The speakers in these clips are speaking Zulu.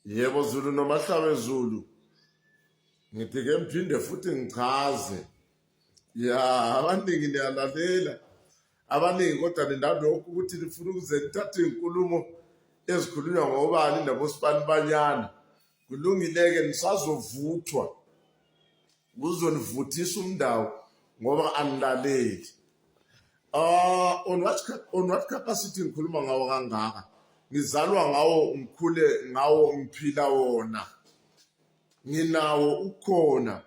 Yebo Zulu nomahlabe Zulu. Ngithi ke mphinde futhi ngichaze. Ya abaningi niyalalela. Abaningi kodwa ninalokhu ukuthi nifuna ukuze nithathe inkulumo ezikhulunywa ngobani nabosibani banyana. Kulungile ke nisazovuthwa. kuzonivuthisa umndawo ngoba anilaleli uh, on, what, on what capacity ngikhuluma ngawo kangaka ngizalwa ngawo ngikhule ngawo ngiphila wona nginawo ukhona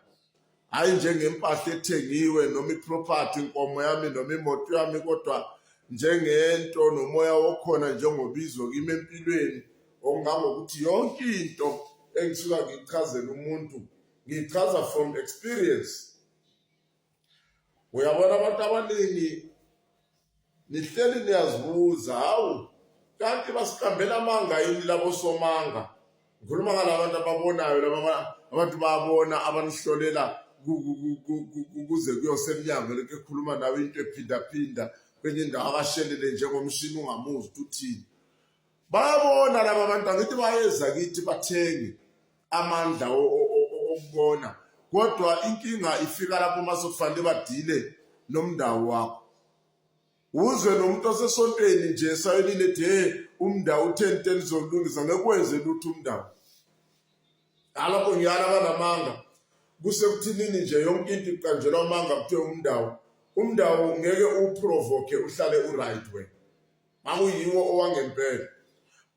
hayi njengempahla ethengiwe noma iproperty inkomo yami noma imoto yami kodwa njengento nomoya okhona njengobizo kimi empilweni ongangokuthi yonke into engisuka ngichazela umuntu Ngichaza from experience. Uyabona abantu abaningi nihleli niyazibuza hawu kanti basiqambela amanga yini labo somanga ngikhuluma ngalabantu ababonayo laba abantu babona abanihlolela kuze kuyosemnyango lento ekhuluma nawe into ephindaphinda kwenye indawo akashelele njengomshini ungamuzi ukuthi uthini bayabona laba bantu angithi bayeza kithi bathengi amandla okubona kodwa inkinga ifika lapho uma sokufanele badile nomndawo wakho uzwe nomuntu osesontweni nje sayolile de umndawo utheni teni zolungisa ngekwenze lutho umndawo alapho ngiyala abanamanga kusekuthinini nje yonke into iqanjelwa amanga kuthiwe umndawo umndawo ngeke uprovoke uhlale uright wena nganguyiwo owangempela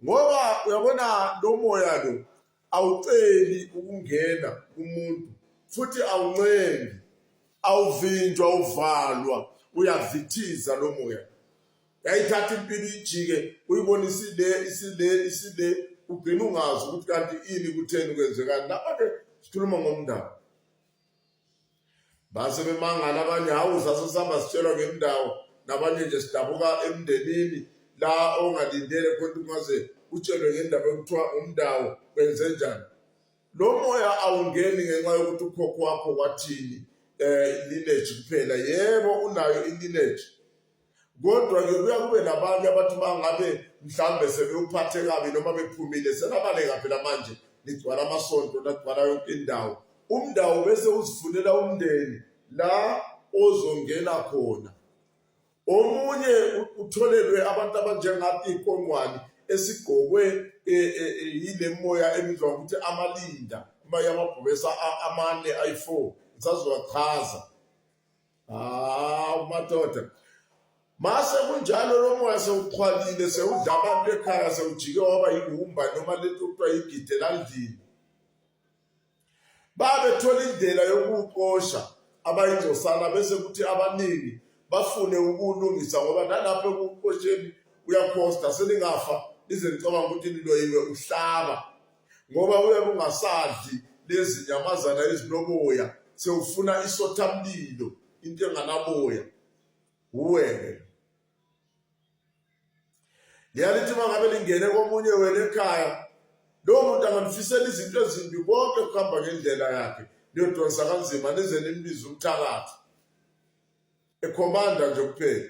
ngoba uyabona lo moya lo awuceli ukungena kumuntu futhi awuncengi awuvinjwa uvalwa uyavithiza lo moya yayithatha impilo ijike uyibona isile isile isile ugcina ungazi ukuthi kanti ini kutheni kwenzekani lapha-ke sikhuluma ngomndaba base bemangala abanye hawu sase sihamba sitshelwa ngendawo nabanye nje sidabuka emndenini la ongalindele khona ungaze utshelwe ngendaba yokuthiwa umndawo kwenze njani lo moya awungeni ngenxa yokuthi ukhokho wakho wathini um lineage kuphela yebo unayo ilineage Kodwa-ke kuya kube nabanye abathi uma ngabe mhlawumbe sebewuphathe kabi noma bephumile selabaleka phela manje ligcwala amasonto lagcwala yonke indawo umndawo bese uzifunela umndeni la ozongena khona omunye utholelwe abantu abanjengathi iqongwane esigqokwe e, e, e, yile moya ebizwa ngokuthi amalinda uma yamabhubesa amane ayi-four ngisazowachaza hawu madoda mase kunjalo lo moya sewuqhwalile sewudla abantu ekhaya sewujike waba yihumba noma lento kuthiwa yigide landlini babethola indlela yokuwuqosha abayingcosana bese kuthi abaningi bafune ukulungisa ngoba nalapho ekuqosheni uyakhosta selingafa lize licabanga ukuthi niloyiwe uhlaba ngoba uyabe ungasadli lezi nyamazana ezinoboya sewufuna isothamlilo into enganaboya uweke liyalithi uma ngabe lingene komunye wena ekhaya lowo muntu anganifisela izinto ezimbi konke kuhamba ngendlela yakhe niyodonsa kanzima nize nimbize umthakathi ekhomanda nje kuphela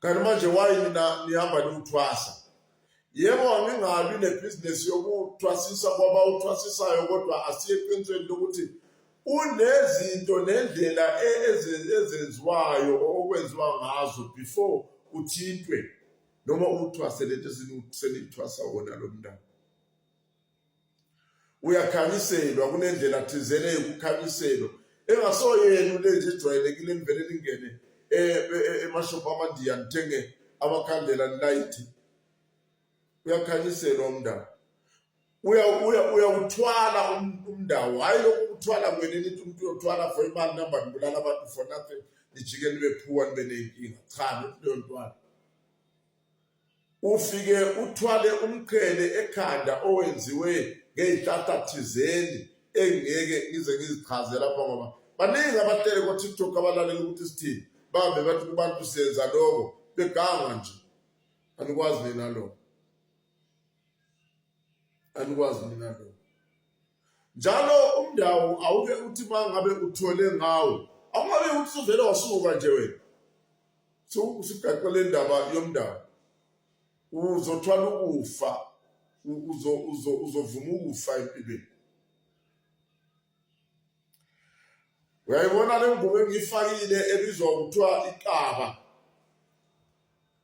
Kanti manje why nina nihamba niwuthwasa? Yebo angingabi nebhizinesi yokuthwasisa kwaba uthwasisayo kodwa asiye eqinisweni lokuthi unezinto nendlela e, ezenziwayo okwenziwa ngazo before uthintwe noma uthwase lento senithwasa wona lo mntana. uyakhanyiselwa kunendlela thizele yokukhanyiselwa engasoyena into nje ejwayelekile elivele lingene eh, eh, eh, emashophu amandiya nithenge amakhandlela nilayithi uyakhanyiselwa umndawo uyawuthwala um, umndawo hhayi lokhu kuthwala kwena nithi umuntu uyothwala for imali namba nibulala abantu for nothing nijike nibe phuwa nibe ney'nkinga cha nento yontwana Ufike uthwale umqhele ekhanda owenziwe ngey'hlahla thizeni engingeke ngize ngizichaze lapha ngoba baningi abahlele ko-tiktok abalalela ukuthi sithini bahambe bathi kubantu senza loko beganga nje anikwazi nina loko anikwazi nina loko njalo umndawo awuke uthi uma ngabe uthole ngawo awungabe ukuthi suvele wasuka nje wena sikugaxwa le ndaba yomndawo uzothwala ukufa uzovuma ukufa empilweni uyayibona le ngubo engiyifakile ebizwa kuthiwa ikaba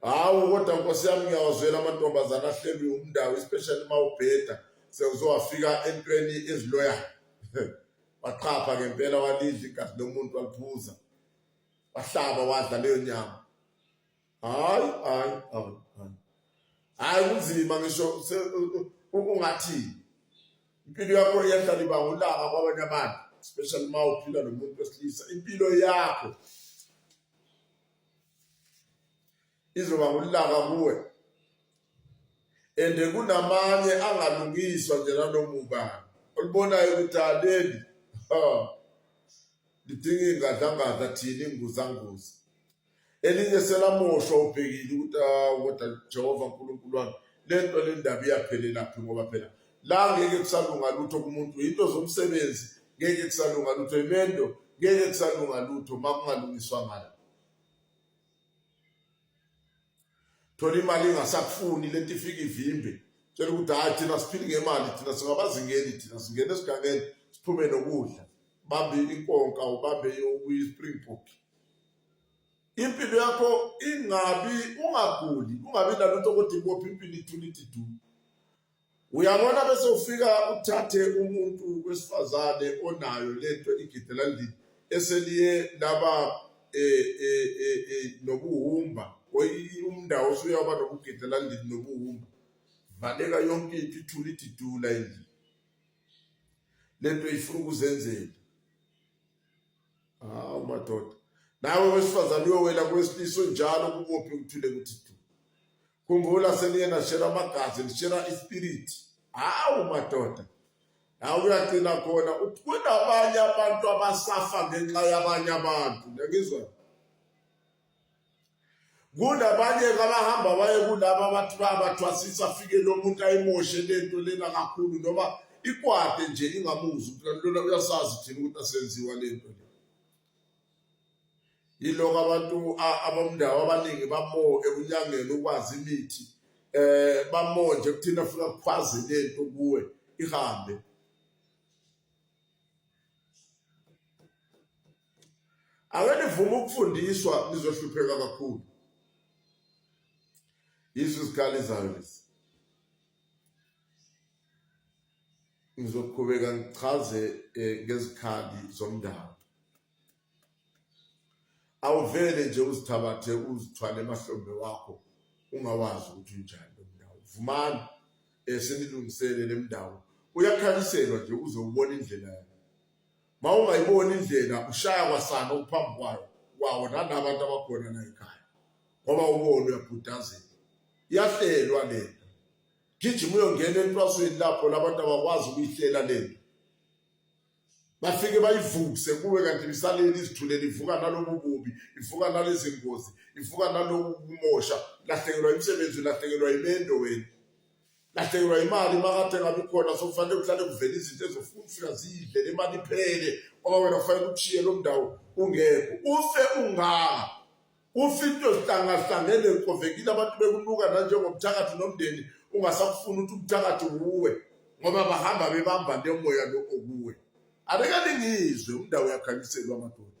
hawu kodwa nkosi yami ngiyawazwela amantombazane ahlelwe umndawo especially uma ubheda sewuzowafika entweni eziloyayo waqapha ngempela walidla igazi lomuntu waliphuza wahlaba wadla leyo nyama hayi hayi hayi hayi kunzima ngisho ungathini Impilo yakho iyahlala iba ngolaka kwabanye abantu, especially uma uphila nomuntu wesilisa. Impilo yakho izoba ngolaka kuwe. Ende kunamanye angalungiswa nje nanomubani. Olibonayo ukuthi aleli. Ha. Lidinga ingadlangadla thina inguzanguza. elinye selamoshwa ubhekile ukuthi ah, kodwa Jehova uNkulunkulu wami lento le ndaba iyaphelelaphi ngoba phela la ngeke kusalunga lutho kumuntu into zomsebenzi ngeke kusalunga lutho imendo ngeke kusalunga lutho uma kungalungiswa ngala thola imali ingasakufuni lento ifika ivimbe tshela ukuthi hayi thina siphili ngemali thina singabazingeni thina singena esigangeni siphume nokudla bambe inkonka ubambe okuyi-springbok impilo yakho ingabi ungaguli ungabi nalutho kodwa ikophi impilo ithula ithi du uyabona bese ufika uthathe umuntu wesifazane onayo lento igidela ndini eseliye laba eh, eh, eh, nobuhumba umndawo usuyaba nokugidela ndini nobuhumba valeka yonke into ithula ithi du la endlini lento ifuna ukuzenzela hawu madoda nawe wesifazane uyowela kwesilisa onjalo kubophi uthule kuthi du khumbula seniye nashela amagazi nishela ispirit hawu madoda nawe kuyagcina khona kunabanye abantu abasafa ngenxa yabanye abantu ngiyakizwa kunabanye kabahamba baye kulaba abantu bayabathwasisa afike lo muntu ayimoshe lento lena kakhulu noma ikwade nje ingamuzi ukuthi lona uyasazi thina ukuthi asenziwa lento le yiloko abantu abamndawo abaningi bamo ekunyangeni ukwazi imithi eh bamo nje kuthina funa kukhwazi lento kuwe ihambe Ake nivume ukufundiswa nizohlupheka kakhulu. Yizo izikhali zayo lezi. Ngizoqhubeka ngichaze eh, ngezikhali zomndalo. Awuvele nje uzithabathe uzithwale emahlombe wakho ungawazi ukuthi unjani lo mndalo. Vumani eh, senilungisele le mndalo. Uyakhaliselwa nje uzobona indlela yakhe. Uma ungayiboni indlela ushaya kwasana uphambi kwayo kwawo nalaba abantu abakhona la ekhaya ngoba ubona uyabhudazela iyahlelwa le nto gijima uyongena entwasweni lapho labantu abakwazi ukuyihlela le nto bafike bayivukse kuwe kanti lisaleli izithulele ivuka nalobu bubi ivuka nalezi ngozi ivuka naloku kumosha lahlekelwa imisebenzi lahlekelwa imendo wena lahlekelwa imali makade ngabi khona sokufanele kuhlale kuvela izinto ezofika zidle le mali iphele ngoba wena kufanele ukushiye lo mndawo ungekho ufe unganga ufe into zihlangahlangene kovekile abantu bekunuka nanjengobuthakathi nomndeni ungasakufuni ukuthi ubuthakathi wuwe ngoba bahamba bebamba nemoya lo okuwe abeka lingizwe umndawo yakhanyiselwa amadoda